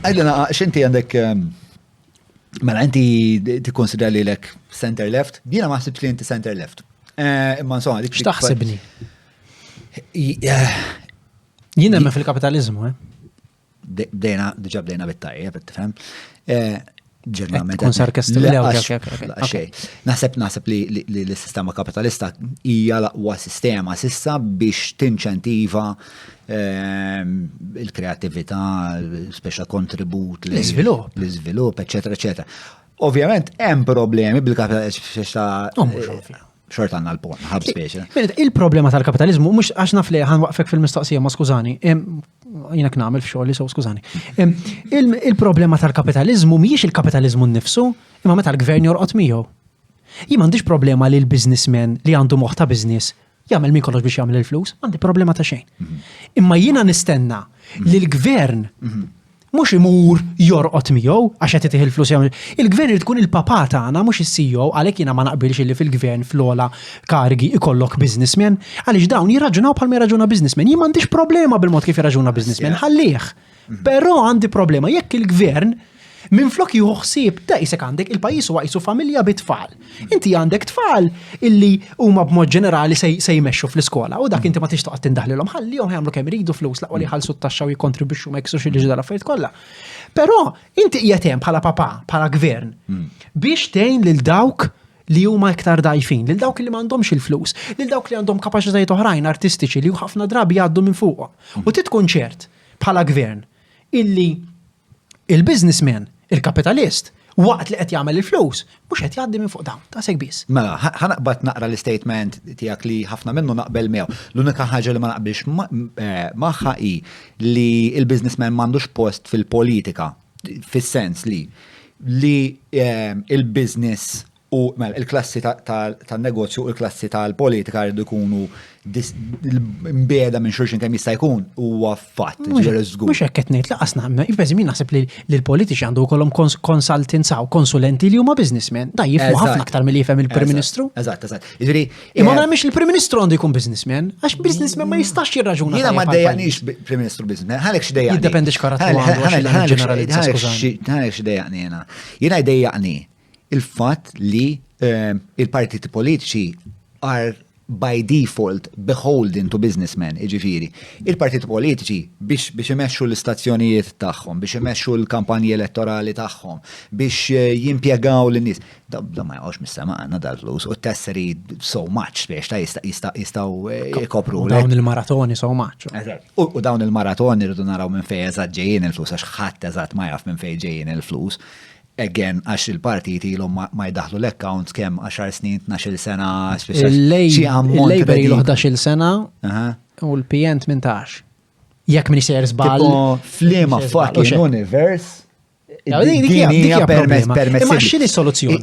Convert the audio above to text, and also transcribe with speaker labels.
Speaker 1: Għidlna, x'inti għandek Mela, inti tikkonsidra li lek center left, jiena ma ħsibx li inti center left. Eh, imma insomma, dik. X'taħsibni? Eh, jiena hemm fil-kapitalizmu, eh? Bdejna, diġà bdejna bit-tajjeb, tifhem. Eh, ġeneralment. Kun sarkast Naħseb naħseb li l-sistema kapitalista hija l-aqwa sistema sissa biex tinċentiva ehm, il-kreativita, speċa kontribut, l-izvilup, l-izvilup, eccetera, eccetera. Ovvjament, hemm problemi bil-kapitalista. xort għanna l-porn, ħab speċa. Il-problema tal-kapitalizmu, mux għax naf li għan waqfek fil-mistoqsija, ma skużani, jina knamil fxol li so skużani. Il-problema tal-kapitalizmu miex il-kapitalizmu n-nifsu, imma meta l-gvern jorqot miegħu. Jien m'għandix problema li l-biznismen li għandu moħta biznis jagħmel min kollox biex jagħmel il-flus, għandi problema ta' xejn. Mhm. Imma jiena nistenna li l-gvern mhm. mhux imur jorqod miegħu għax qed itih il-flus jew il-gvern irid ikun il-papa tagħna mhux is-CEO għalhekk jiena ma naqbilx illi fil-gvern fl-ogħla karigi ikollok businessman għaliex dawn jirraġunaw bħalma jirraġuna businessman. Jien m'għandix problema bil-mod kif jirraġuna businessman, ħallih. Mhm. Però għandi problema jekk il-gvern minflok jieħu ħsieb ta' isek għandek il-pajjiż huwa qisu familja bit-tfal. Inti għandek tfal illi huma b'mod ġenerali se jmexxu fl-iskola u dak inti ma tix toqgħod tindaħlilhom ħalli jom jagħmlu kemm iridu flus laqwa li jħallsu t-taxxa u jikkontribwixxu ma jiksux il-liġi tal-affarijiet kollha. Però inti qiegħed hemm bħala papa, bħala gvern hmm. biex tgħin lil dawk li huma iktar dajfin, lil dawk li m'għandhomx il-flus, lil dawk li għandhom kapaċitajiet oħrajn artistiċi li ħafna drabi jgħaddu minn fuqhom. U hmm. titkun ċert bħala gvern illi il-businessman, il-kapitalist, waqt li qed jagħmel il-flus, mhux qed jgħaddi minn fuq dawn, ta' segbis. Mela, ħanaqbad naqra l-istatement tiegħek li ħafna minnu naqbel miegħu. L-unika ħaġa li ma naqbilx eh, magħha hi li l-businessman m'għandux post fil-politika, fis-sens li li eh, il-business U mela, il-klassi tan-negozju u l-klassi tal-politika jridu jkunu mbiegħda minn xulxin kemm jista' jkun huwa fatt, ġifieri żgur. Mhux hekk qed ngħid, laqas naqbel, jibbeżi min naħseb li l-politiċi għandu jkollhom consultants u konsulenti li huma businessmen, da jifhmu ħafna aktar milli jifhem il-Prim Ministru. Eżatt, eżatt. Jiġri. Imma ma mhix il-Prim Ministru għandu jkun businessman, għax businessman ma jistax jirraġuna. Jiena ma dejjaqniex Prim Ministru businessman, ħalek x'dejjaqni. Jiddependix karatteru. Ħalek x'dejjaqni jiena. Jiena jdejjaqni. il-fatt li ehm, il-partiti politiċi are by default beholden to businessmen, iġifiri. Il-partiti politiċi biex, biex imexxu l-istazzjonijiet tagħhom, biex imexxu l-kampanji elettorali tagħhom, biex eh, jimpjegaw l-nies. Da ma jgħawx mis-sema għandna dal-flus u tesseri so much biex ta' jistaw eh, ikopru. Dawn il-maratoni so much. U dawn il-maratoni rridu naraw minn fejn eżatt ġejjin il-flus għax ħadd eżatt ma jaf minn fejn ġejjin il-flus. Again, għax il-partijiet ilhom ma jdaħħlu l-accounts kemm għaxar snin, tnax-il sena, speċjal. Il-Labor ilu ħdax-il sena u l-PN tmintax. Jekk min jsejjer żball. Flima fucking univers. Dik hija permess permess. Imma x'inhi soluzzjoni?